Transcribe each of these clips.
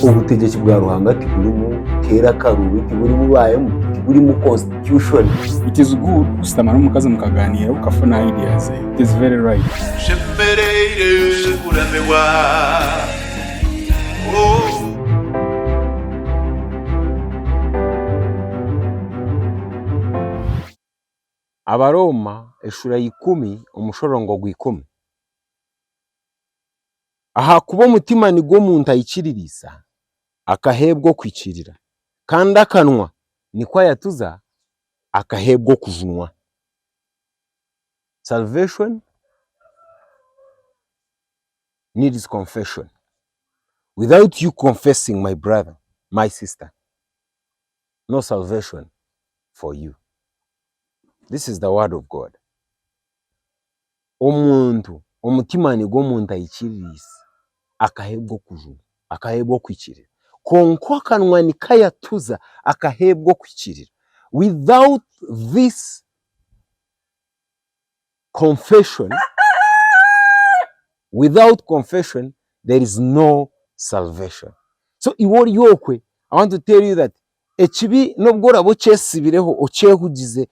Obutegyeki bwa Ruhanga tiburimu keera akaruubi, tiburimu baayemu, tiburimu constitution. It is good kushutama n'omukazi mukagaaniira okafuna idea ze. It is very right. Nshemereire kuramirwa oh. Abarooma eshura ya ikumi omushorongo gwa ikumi. Ahakuba omutima nigwo omuntu aikiririisa, akaheebwa okuikirira, kandi akanwa nikwo ayatuza, akaheebwa okujunwa. Salvation needs confession. Without you confessing my brother, my sister, no salvation for you. This is the word of God. Omuntu, omutima nigwo omuntu aikiririisa akaheebwa okujuma, akaheebwa okuhikirira. Kwonka akanwa nikayatuza akaheebwa okuhikirira. Without this confession, without confession there is no salvation. So iwe ori okwe I want to tell you that ekibi n'obu oraabe okyetsibireho, okyehugize,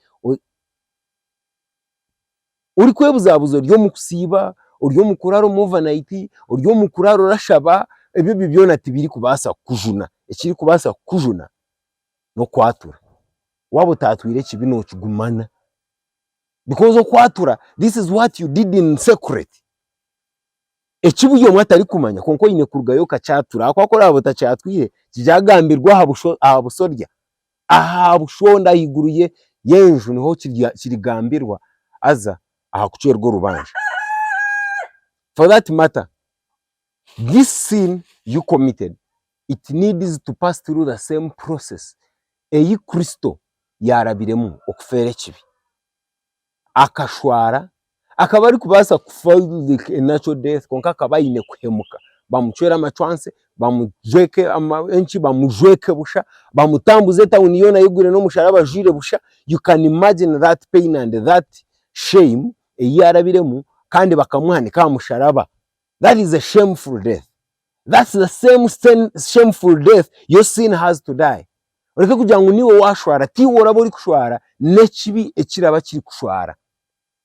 Orikwebuzaabuza ori omu kusiiba, ori omu kuraara omu ovanaiti, ori omu kuraara orashaba, ebyo byona tibirikubaasa kukujuna. Ekirikubaasa kukujuna n'okwatura. Waaba otaatwire ekibi nookigumana. Bikozi okwatura this is what you did in secret. Eki buri omwe atarikumanya kwonka oine kurugayo okakyatura ahakuba ku oraabe otakyatwire, kigyagambirwe aha buso aha busorya. Aha bushonda ahaiguru y'enju niho kirigambirwa haza aha kucwerwa orubanja. For that matter, this sin you committed, it needs to pass through the same process eyi Kristo yaarabiremu okufeera ekibi. akashwara akaba arikubaasa kufa a natural death kwonka akaba aine kuhemuka bamucwera amacwansi bamujweke enki bamujweke busha bamutambuze etauni yoona ayigwire n'omusharaba ajwire busha you can imagine that pain and that shame eyi yarabiremu kandi bakamuhanika aha musharaba. that is a shameful death that's the same same shameful death your sin has to die oreke kugira ngu niiwe washwara tiiwe oraba orikushwara n'ekibi ekiraba kirikushwara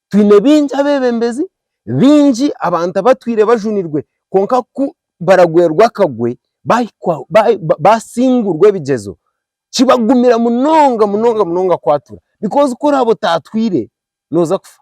twine bingi abeebembezi bingi abantu abatwire bajunirwe kwonka ku baragwerwa akagwe bahikwa ba- ba- basingurwa ebigyezo kibagumira munonga munonga munonga kwatura because ku oraabe otaatwire nooza kufa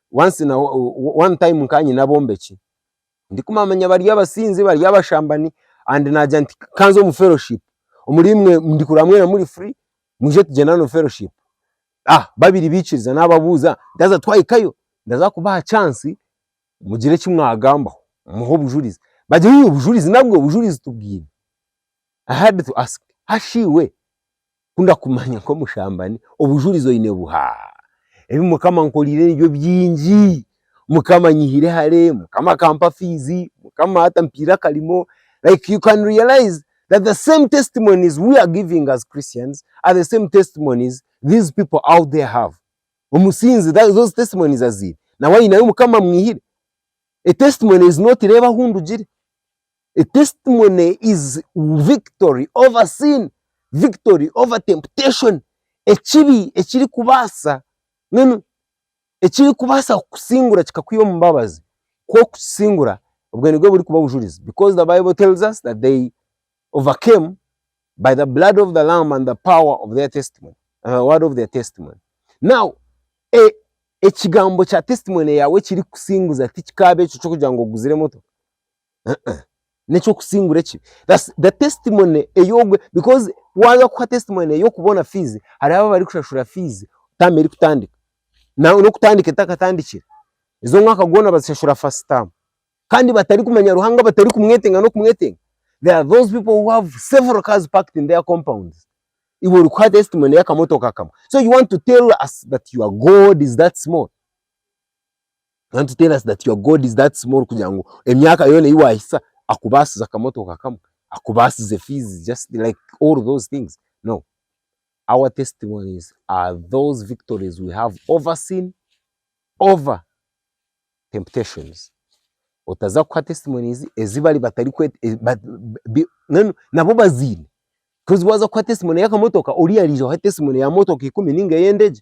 Once na one time nkaba nyine abombeki ndikumamanya bari abasinzi bari abashambani and nagira nti kanze omu fellowship omuri imwe ndikuraba mwena muri free mwije tugyendane omu fellowship ah babiri bikiriza nababuuza ndaza twahikayo ndaza kubaha chance mugire eki mwagambaho muhe obujurizi bagira ii obujurizi nabwe obujurizi tubwine I had to ask hashi iwe Ku ndakumanya nk'omushambani, obujurizi oine buha? Ebi Mukama ankorire nibyo bingi, Mukama anyihire hare, Mukama akampa fiizi, Mukama hati ampaire akarimo, like you can realize that the same testimonies we are giving as Christians are the same testimonies these people out there have. Omusinzi those testimonies aziine, nawe aine ahu Mukama amwihire. A testimony is not reeba ahu ndugire. A testimony is victory over sin, victory over temptation, ekibi ekirikubaasa mbwenu ekirikubaasa kukusingura kikakwiha omu mbabazi ku orikukisingura obwe nibwo burikuba bujurizi because the bible tells us that they overcame by the blood of the lamb and the power of their testimony, the word of their testimony. Now ekigambo kya testimony yaawe ekirikukusinguza tikikaabe ekyo ky'okugira ngu oguzire emotoka. neky'okusingura ekibi the testimony ey'ogwe because waaza kuha testimony ey'okuba oine fiizi hariho abu barikushashura fiizi taamu erikutandika nangwa n'okutandika etakatandikire ezi omwaka gwona bazishashura first term kandi batarikumanya Ruhanga batarikumwetenga n'okumwetenga there are those people who have several cars parked in their compound iwe orikuha testimony y'akamotoka kamwe so you want to tell us that your God is that small? Can't you tell us that your God is that small kugira ngu emyaka yoona eyi wahitsya akubaasize akamotoka kamwe, akubaasize fees just like all those things? No. Our testimonies are those victories we have over sin, over temptations. Otaza kuha testimonies ezi bari batari kwe mbwenu nabo baziine coz waza kuha testimony y'akamotoka oriya arija ohe testimony ya motoka ikumi ninga ey'endegye.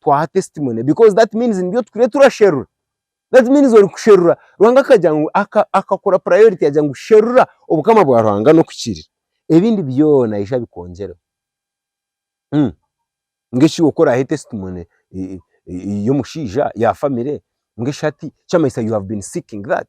twaha testimony because that means nibyo tukire turasherura that means ori kusherura Ruhanga akagira ngu aka akakura priority yagira ngu sherura obukama bwa Ruhanga n'oku kiri ebindi byona aije abikongyereho hmm ngu eki oku orahe testimony e- e- y'omushaija ya family ngu eshati ekyamanyisa you have been seeking that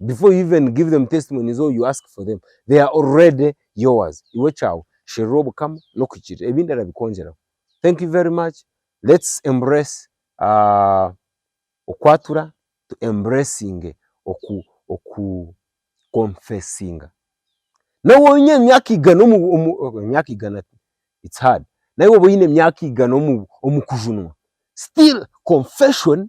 before you even give them testimonies or you ask for them they are already yours iwe ekyawe sherura obukama n'okuhikirira ebindi arabikwongyeraho thank you very much let's embrace aah okwatura tu embracinge oku oku confessinga naawe waaba oine emyaka igana omu omu emyaka igana it's hard naawe waaba oine emyaka igana omu omu kujunwa still confession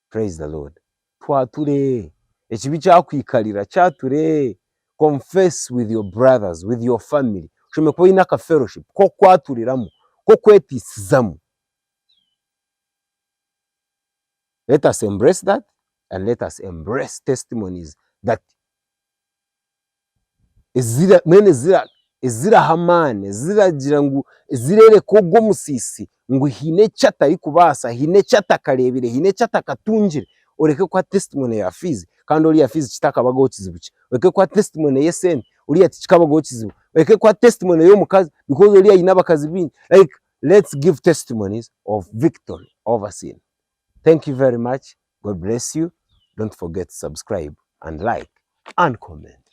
Praise the Lord. Twature! Ekibi kyakwikarira, kyature! Confess with your brothers, with your family. Oshemereire kuba oine aka fellowship k'okwaturiramu, k'okweteisizamu. Let us embrace that and let us embrace testimonies that. ezira mbwenu ezira eziraha amaani, eziragira ngu ezirereka ogu omusiisi ngu haine eki atarikubaasa, haine eki atakareebire, haine eki atakatungire, oreke kuha testimony ya fiizi kandi oriya fiizi kitakabagaho kizibu kye, oreke kuha testimony y'esente oriya tikikabagaho kizibu, oreke kuha testimony y'omukazi because oriya aine abakazi baingi, like let's give testimonies of victory over sin. Thank you very much God bless you don't forget to subscribe and like and comment.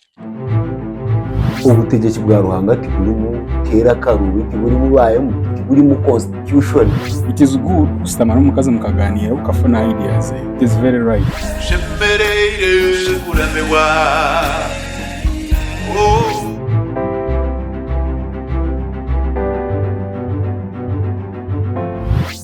Obutegyeki bwa Ruhanga tiburimu keera karuubi, tiburimu baayemu, tiburimu constitution. It is good kushutama n'omukazi mukagaaniira okafuna ideas ze. It is very right. Tushemereire kuramibwa oh.